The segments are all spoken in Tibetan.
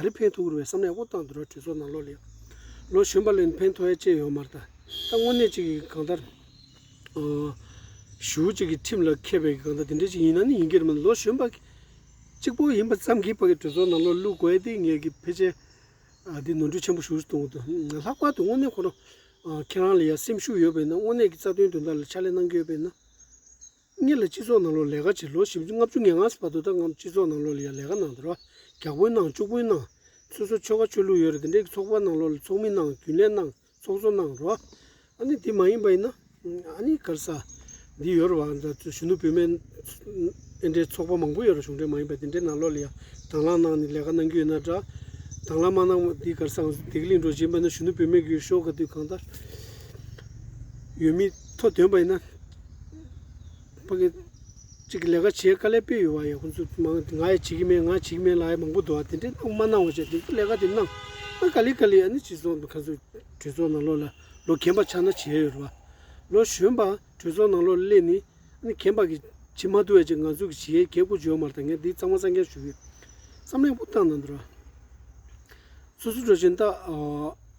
ག་རེ་ཕན་ཐོགས་རུ་བའི་བསམ་ལས་དབུ་བཏང་དུ་ར་གྲོས་ཚོགས་ནང་ལོག་ལེགས། ལོ་གཞོན་པ་ལས་ཕན་ཐོགས་ཡ་ཅེས་ཡོང་མར་ད་ལྟ་དངོས་གནས་ཅིག་གིས་གང་ལྟར། ཞུ་བོ་ཅིག་གིས་ཁྲིམས་ལ་མཁས་པའི་གང་ལྟར་དེ་འདྲའི་ཅིག་ཡིན་ན་ནི་ཡིན་གྱི་རེད་མ་ལོ་གཞོན་པ། གཅིག་པོ་ཡིན་པ་ཙམ་གྱིས་ཕ་གི་གྲོས་ཚོགས་ནང་ལོག་བླུག་དགོས་ཏེ་ངེད་ཀྱི་ཕལ་ཆེར། འདི་ནོར་འཁྲུལ་ཆེན་པོ་ཞུ་བོ་གཏོང་དུ་ལྷག་པར་དུ་དངོས་གནས་ཁོ་རང། ཁྱེད་རང་ལ་ཡང་སེམས་ཤུགས་ཡོད་པས་ན་དངོས་གནས་ཀྱི་རྩ་དོན་དོན་དག་ལ་ཕྱག་ལས་གནང་གི་ཡོད་པས་ན། གཉིས་ལ་སྤྱི་ཚོགས་ནང་ལོགས་ལས་ཀ་བྱས་ལོ་ཞིབ་ལྔ་བཅུ་ངེ་ལྔ་སོ་བར་དུ་ད་སྔ་སྤྱི་ཚོགས་ནང་ལོགས་ལས་ཀ་གནང་དེ་རོ་རྒྱག་པོའི་གནང་སྤྱུག་པོའི་གནང་སོ་སོ་ཆོལ་ཁ་ཆོས་ལུགས་ཡོད་རེད་དེ་འདྲའི་གི་ཚོགས་པ་གནང་ལོགས་ལས་ཚོགས་མི་གནང་རྒྱུན་ལས་གནང་ཚོགས་གཙོ་གནང་རོ་ཨ་ནི་དེ་མ་ཡིན་པ་ཡིན་ན་ཨ་ནི་གར་ས་འདི་ཡོད་རོ་བ་འདྲ་གཞོན་ནུ་བུད་མེད་དེ་འདྲའི་ཚོགས་པ་མང་པོ་ཡོད་རོ་གཞུང་འབྲེལ་མ་ཡིན་པ་དེ་འདྲའི་ནང་ལོགས་ལས་དང་ལག་གནང་ནས་ལས་ཀ་གནང་རྒྱུ་ཡོད་ན་འདྲ་དང་ལག་མ་གནང་བ་དེ་གར་སའང་དེ་གི་གླིང་འགྲོ་བཞིན་པ་ན་གཞོན་ནུ་བུད་མེད་གི་ཡོད་ཤོག་ག་དུས་གང་ལྟར་ཡོད་མི་ཐོ་འདོན་པ་ཡིན་ན། ཕ་གི་གཅིག་གི་ལས་ཀ་བྱེད་དཀའ་ལས་དཔེ་ཡོད་པ་ཡང་ཁོང་ཚོ་མང་ང་ཡང་བྱེད་ཀྱི་མེད་ང་བྱེད་ཀྱི་མེད་ལ་ཡང་མང་པོ་འདུག་བ་དེ་འདྲས་གནང་མ་གནང་བ་བྱས་དེ་ཚོ་ལས་ཀ་དེ་གནང་ཨ་དཀའ་ལས་དཀའ་ལས་ཨ་ནི་སྤྱི་ཚོགས་ནང་ཁ་མཆུ་གྲོས་ཚོགས་ནང་ལོག་ལ་ལོ་གན་པ་ཆགས་ན་བྱས་ཡོད་རེད་བ། ལོ་གཞོན་པ་གྲོས་ཚོགས་ནང་ལོག་ལ་སླེབས་ནས་ཨ་ནི་གན་པ་གི་བྱེད་མ་ཐུབ་བ་ཅིག་ང་ཚོ་གི་བྱེད་གལ་གོ་འཇོག་མར་ད་ངས་འདི་གཙང་མ་གཙང་རྐྱང་ཞུ་གི་ཡོད་བསམ་གླེང་པོ་བཏང་ན་འདོད་ར། སོ་སོ་འགྲོ་ཆེན་ད།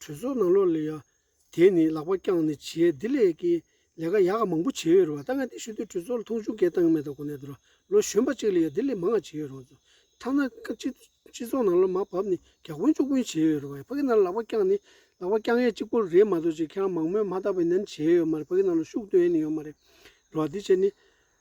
གྲོས་ཚོགས་ནང་ལོ་ལེགས་ཡག་དེ་ནི་ལག་པ་བརྐྱངས་ནས་བྱས་འདི་ལས་ཀྱི་ལས་ཀ་ཡག་ག་མང་པོ་བྱས་ཡོད་རེད་བ་ད་ང་འདི་ཞུ་དུས་གྲོས་ཚོགས་ལ་མཐོང་ཆུང་གས་བཏང་གི་མེད་ད་གོ་གནས་དུ་ར་ལོ་གཞོན་པ་གཅིག་ལས་ཡག་འདི་ལས་མང་ང་བྱས་ཡོད་རང་ཚོ་ཐ་ན་སྤྱི་ཚོགས་ནང་ལོ་མ་བབ་ནས་གྱ་དཀོན་ཅུག་དཀོན་བྱས་ཡོད་རེད་བ་ཕ་གི་ནང་ལ་ལག་པ་བརྐྱངས་ནས་ལག་པ་བརྐྱངས་ཡས་གཅིག་པོ་རེད་མ་གཏོགས་ཅིག་ཁྱེད་རང་མང་མོས་མ་བཏགས་པའི་ནན་བྱས་ཡོད་མ་རེད་ཕ་གི་ནང་ལ་ཤུགས་བཏོན་ཡས་ནི་ཡོད་མ་རེད་རེད་བ་འདི་བྱས་ནི།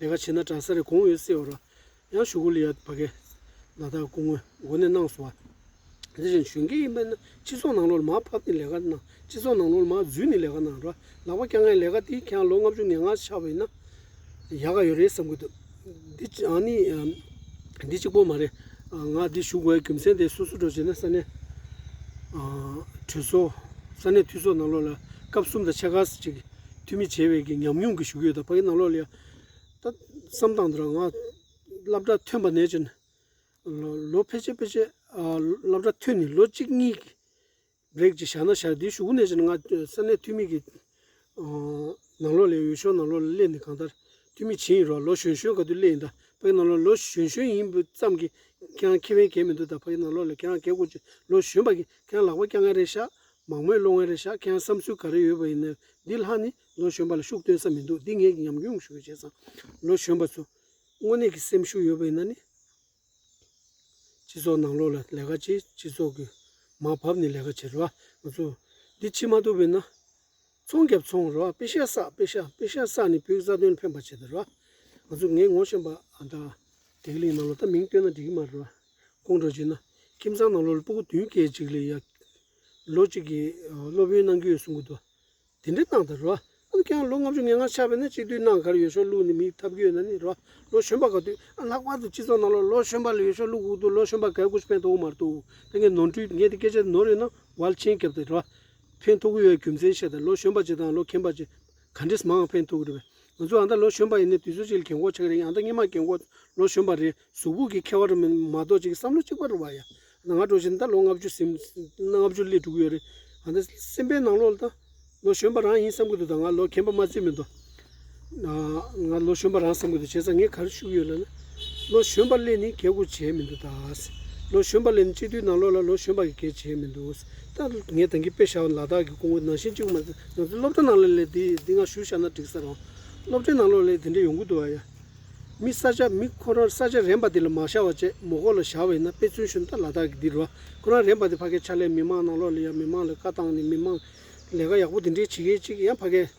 ལས་ཀ་བྱེད་ན་གྲྭ་སར་གོང་འོས་གསལ་བ་རོ། ཡང་ཞུ་གུ་ལི་ཡ་བ་གས་ན་བདག་སྐུ་ངོ་མགོ་ནས་གནང་སོང་བ། དེ་བཞིན་ཞུན་གེ་ཡིན་པས་ན་སྤྱི་ཚོགས་ནང་ལོར་མ་ཕབ་ནས་ལས་ཀ་གནང་སྤྱི་ཚོགས་ནང་ལོར་མ་འཛུལ་ནས་ལས་ཀ་གནང་རོ་ལག་པ་བཀྱག་མཁན་ལས་ཀ་དེ་ཁྱེད་ལོ་ལྔ་བཅུ་ནས་ང་ཆགས་པས་ན་ཡག་ག་ཡོད་རེད་བསམ་གི་འདུག་འདི་ཡང་ནི་འདི་གཅིག་པོ་མ་རེད། ང་འདི་ཞུ་དགོས་རྒྱུ་མཚན་དེ་སོ་སོ་འགྲོ་བྱས་ན་ས་གནས་གྲོས་ཚོགས་ས་གནས་འཐུས་ཚོགས་ནང་ལོར་ལ་སྐབས་གསུམ་དང་ཕྱེད་ཀ་ཅིག་ཐུགས་མི་བྱེད་བའི་ཉམས་མྱོང་གི་ཞུ་གུ་ཡོད་ད་ཕ་གི་རྣ་ལོག་ལ་ཡ། ད་བསམ་སྟངས་འདི་རང་ང་སླབ་གྲྭ་ཐོན་པ་ནས་ཅིན། ལོ་ཕལ་ཆེར་ཕལ་ཆེར་སླབ་གྲྭ་ཐོན་ནས་ལོ་གཅིག་གཉིས་ཀྱི་རེག་ཅིག་བཞག་ན་བཞག་དེའི་ཞུ་གུ་ནས་ཅིན་ང་ས་གནས་ཐུགས་མི་གི་རྣ་ལོག་ལ་ཡོད་ཤོག་རྣ་ལོག་ལ་སླེབས་ནས་གང་ལྟར་ཐུགས་མི་བྱེད་ཡིན་རོགས་ལོ་གཞོན་གཞོན་ག་དུས་སླེབས་ཡིན་ད་ཕ་གི་རྣ་ལོག་ལ་ལོ་གཞོན་གཞོན་ཡིན་པའི་ཙམ་གྱི་ཁྱེད་རང་ཁེ་ཕན་གས་མི་འདུག་ད་ཕ་གི་རྣ་ལོག་ལ་ཁྱེད་རང་གས་དགོས་ཅིག་ལོ་གཞོན་པ་གི་ཁྱེད་རང་ལག་པ་སྐྱ་ངན་རེ་ཤག་མང་མོས་སློང་བའི་རེད་ཤག་ཁྱེད་རང་བསམ་ཚུལ་ག་རེ་ཡོད་པ་ཡིན་ནའི་འདི་ལྷག་ནི་ལོ་གཞོན་པ་ལ་ཤུགས་སྟོན་ས་མི་འདུག་འདི་ངས་ཀྱི་ཉམས་མྱོང་ཞུ་བའི་བྱས་ཙང་ལོ་གཞོན་པ་ཚོ་དངོས་གནས་ཀྱི་སེམས་ཤུགས་ཡོད་པ་ཡིན་ན་ནི་སྤྱི་ཚོགས་ནང་ལོག་ལ་ལས་ཀ་བྱེད་སྤྱི་ཚོགས་ཀྱི་མ་བབ་ནས་ལས་ཀ་བྱེད་རུ་བ་ང་ཚོ་འདི་ཕྱི་མ་ཐུབ་པའི་ན་ཚོང་རྒྱབ་ཚོང་རོགས་པི་ཤ་བསགས་པི་ཤ་པི་ཤ་བསགས་ནི་བུའི་རྩ་དོན་ཕན་པ་བྱེད་དོ་རོགས་ང་ཚོ་ངའི་ངོ་ཤེས་པ་དང། དེ་གླིང་ནང་ལོ་ད་མིང་བཏོན་ན་འགྲིག་གི་མ་རེད་རོགས་དགོངས་འགྲོ་བྱེད་ན་ཁྱིམ་ཚང་ནང་ལོ་ལ་སྤུ་གུ་བདུན་སྐྱེ་གཅིག་ལས་ཡག་ལོ་གཅིག་གི་སློབ་དཔོན་གནང་རྒྱུ་ཡོད་གསུང་གི་འདུག་དེ་འདྲའི་གནང་དང་རོགས་ཨ་ནི་ཁྱེད་རང་ལོ་ལྔ་བཅུ་ངེས་ངར་ཆགས་པས་ན་གཅིག་དུས་ནང་གར་ཡོད་ཤོག་ལུག་ནི་མིའི་ཐབས་སྐྱོ་ཡོད་ན་ནི་རོགས་ལོ་གཞོན་པ་ག་དུས་ཨ་ལྷག་པར་དུ་སྤྱི་ཚོགས་ནང་ལོ་ལོ་གཞོན་པ་ལ་ཡོད་ཤོག་ལུག་དགུག་འདུག་ལོ་གཞོན་པ་གས་སྐུ་ཕན་ཐོག་དབུ་མར་འདུག་ད་ངས་ནོར་འཁྲུལ་ངས་དེ་སྐད་ཆ་ནོར་ཡོད་ན་ཝལ་ཆེན་རྒྱབ་སྟེ་རོགས་ཕན་ཐོགས་ཀྱི་ཡོད་རྒྱུ་མཚན་བཤད་དང་ལོ་གཞོན་པ་བཅས་དང་ལོ་མཁན་པ་བཅས་ག་འདྲས་མང་ཕན་ཐོགས་ཀྱི་རེད་བས་ང་ཚོ་ཡང་ད་ལོ་གཞོན་པ་ཡིན་ནའི་དུས་ཚོད་ཅིག་ལ་གྱེན་འགོག་ཆགས་ཀྱི་རེད་ཡང་ད་སྙེ་མ་གྱེན་འགོག་ལོ་གཞོན་པ་རེད་གཟུགས་ཕུག་གི་ཁ་བ་རུ་མེད་མ་གཏོགས་ཅིག་བསམ་བློ་གཅིག་པ་རུ་བ་ཡ་ད་ང་འགྲོ་ཆེད་ད་ལོ་ལྔ་བཅུ་སེམས་ལྔ་བཅུ་སླེབས་འགྲོ་གི་ཡོད་རེད་ཡང་ད་སེམས་པའི་ནང་ལོགས་ལ་ད་ལོ་གཞོན་པ་རང་ཡིན་བསམ་གྱི་འདུག་ད་ང་ལོ་མཁན་པ་མ་བརྩིས་མི་འདུག་ང་ལོ་གཞོན་པ་རང་བསམ་དགོས་འདུག་བྱས་ཙང་ངས་ག་རེ་ཤུགས་ཡོད་ལབ་ན། ལོ་གཞོན་པ་ལས་ནི་གལ་སྒོ་འབྱེད་མི་འདུག་ད། ལོ་གཞོན་པ་ལས་ནི་སྤྱི་འཐུས་ནང་ལོགས་ལ་ལོ་གཞོན་པ་གི་གལ་འབྱེད་མི་འདུག་ད། ངས་དེང་གི་དཔེ་བཞག་ལ་དྭགས་ཀྱི་ཀོང་བོ་ནང་བཞིན་གཅིག་པུ་མ་ཟད་ང་ཚོའི་སློབ་གྲྭ་ནང་ལ་ལས་དེ་འདི་འང་ཞུ་བཞག་ན་འགྲིག་ས་རང། སློབ་གྲྭའི་ནང་ལོགས་ལས་དེ་འདྲས་ཡོང་གི་འདུག་ཨ་ཡ། མི་ས་ཆ་མི་ཁོ་རང་ས་ཆ་རན་པ་དེ་ལ་མ་བཞག་བ་བཅས་མོ་ཁོ་ལ་བཞག་བས་ན་དཔེ་མཚོན་ཞུ་ན་ད་ལ་དྭགས་ཀྱི་འདི་རུ་ཁོ་རང་རན་པ་དེ་ཕ་གའི་ཆ་ལས་མི་མང་ནང་ལོགས་ལ་ཡ་མི་མང་ལ་བཀའ་བཏང་ནས་མི་མང་ལས་ཀ་ཡག་པོ་དེ་འདྲས་བྱེད་མཁན་གཅིག་ཡ་ཕ་གའི།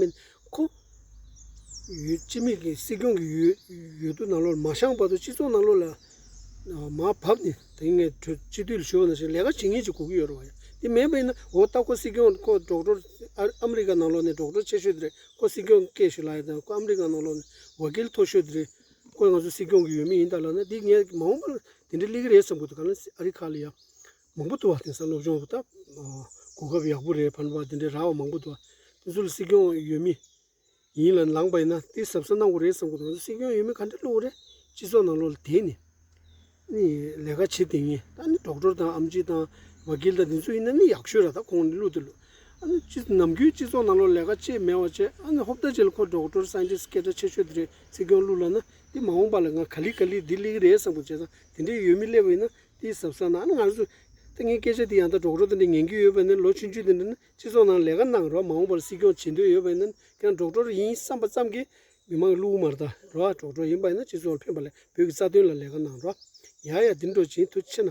མིན། ཁོ། ཡུལ་སྤྱི་མེས་ཀྱིས་སྲིད་སྐྱོང་གི་ཡུལ་དུ་ནང་ལོག་མ་བཤངས་བར་དུ་སྤྱི་ཚོགས་ནང་ལོག་ལ་མ་བབས་ནས་དེང་ངས་གྲོས་སྤྱི་འཐུས་ཞུ་བ་ནང་བཞིན་ལས་ཀ་ཇི་སྙེད་ཅིག་གོ་གི་ཡོད་རེད་བ་ཡ། དེ་མེད་པས་ན་འོ་ལྟ་ཁོ་སྲིད་སྐྱོང་ཁོ་འབྲོག་འབྲོག་ཨ་མི་རི་ཀ་ནང་ལོག་ནས་འབྲོག་འབྲོག་ཆེ་ཤོས་དེ་རེད་ཁོ་སྲིད་སྐྱོང་སྐད་ཞུ་ལ་ཡ་དང་ཁོ་ཨ་མི་རི་ཀ་ནང་ལོག་ནས་བ་སྐལ་མཐོ་ཤོས་དེ་རེད། ཁོ་ང་ཚོ་སྲིད་སྐྱོང་གི་ཡུལ་མི་ཡིན་ད་ལ་ན་དེ་ངས་མ་འོངས་པར་དེ་འདྲའི་གླེགས་རིས་གསུངས་དགོས་དོ་ག་ལ་སྲིད་ཨ་རི་ཁ་ལ་ཡ། མང་པོ་འདུག་བ་དེང་སང་སློབ་སྦྱོང་སྟབས་གོ་སྐབས་ཡག་པོ་རེད་བར་འདུག་བ་དེ་འདྲའི་ར་བ་མང་པོ་འདུག་བ་དེ་ཚོ་ལ་སྲིད་སྐྱོང་ཡོད་མི་ཡིན་ལ་ལངས་པ་ཡིན་ན་དེ་ཟབ་ས་གནང་དགོས་རེད་བསམ་གོ་དང་སྲིད་སྐྱོང་ཡོད་མི་ག་འདྲ་བླུག་རེད་སྤྱི་ཚོགས་ནང་ལོག་ལ་དེ་ནི་ནི་ལས་ཀ་བྱེད་དེ་ངེས་ད་ནི་གྲོགས་གྲོར་དང་ཨམ་ཅི་དང་བ་གིལ་དང་དེ་ཚོ་ཡིན་ན་ནི་ཡག་ཤོས་ར་ད་ཁོང་ནི་བླུག་དེ་བླུག་ཨ་ནི་སྤྱི་ནམ་རྒྱུན་སྤྱི་ཚོགས་ནང་ལོག་ལས་ཀ་ཅེས་མེད་བ་བྱས་ཨ་ནི་ཧོབ་ད་བྱས་ལ་ཁོ་གྲོགས་གྲོར scientist སྐད་སྒྲ་ཆེ་ཤོས་དེ་རེད་སྲིད་སྐྱོང་བླུག་ལ་ན་དེ་མ་འོངས་པ་ལ་ང་ག་ལི་ག་ལི་འདི་གླེགས་རེད་བསམ་གོ་བྱས་ཙང་དེ་འདྲའི་ཡོད་མི་སླེབས་པ་ཡིན་ན་འདི་ཟབ་ས་ན་ང་ཚོ་ལྟ་ངན་སྐད་ཆ་འདི་ཡང་དག་སྒྲོག་སྒྲོག་དེ་འདྲ་ཉན་རྒྱུ་ཡོད་པ་ནི་ལོ་ཆུང་ཆུང་དེ་འདྲ་ནི་སྤྱི་ཚོགས་ནང་ལས་ཀ་གནང་རོགས་མ་འོངས་པར་སྲིད་སྐྱོང་བྱེད་འདོད་ཡོད་པ་ཡིན་ན་ཁྱེད་རང་སྒྲོག་སྒྲོག་རེ་ཡིན་བསམ་པ་ཙམ་གྱིས་མི་མང་གི་བླུག་དམར་དང་རོགས་སྒྲོག་སྒྲོག་ཡིན་པ་ཡིན་ན་སྤྱི་ཚོགས་ལ་ཕན་པ་ལས་བོད་ཀྱི་རྩ་དོན་ལ་ལས་ཀ་གནང་རོགས་ཡ་ཡ་འདི་འགྲོ་ཇེ་མཐུ་ཆེ་ན།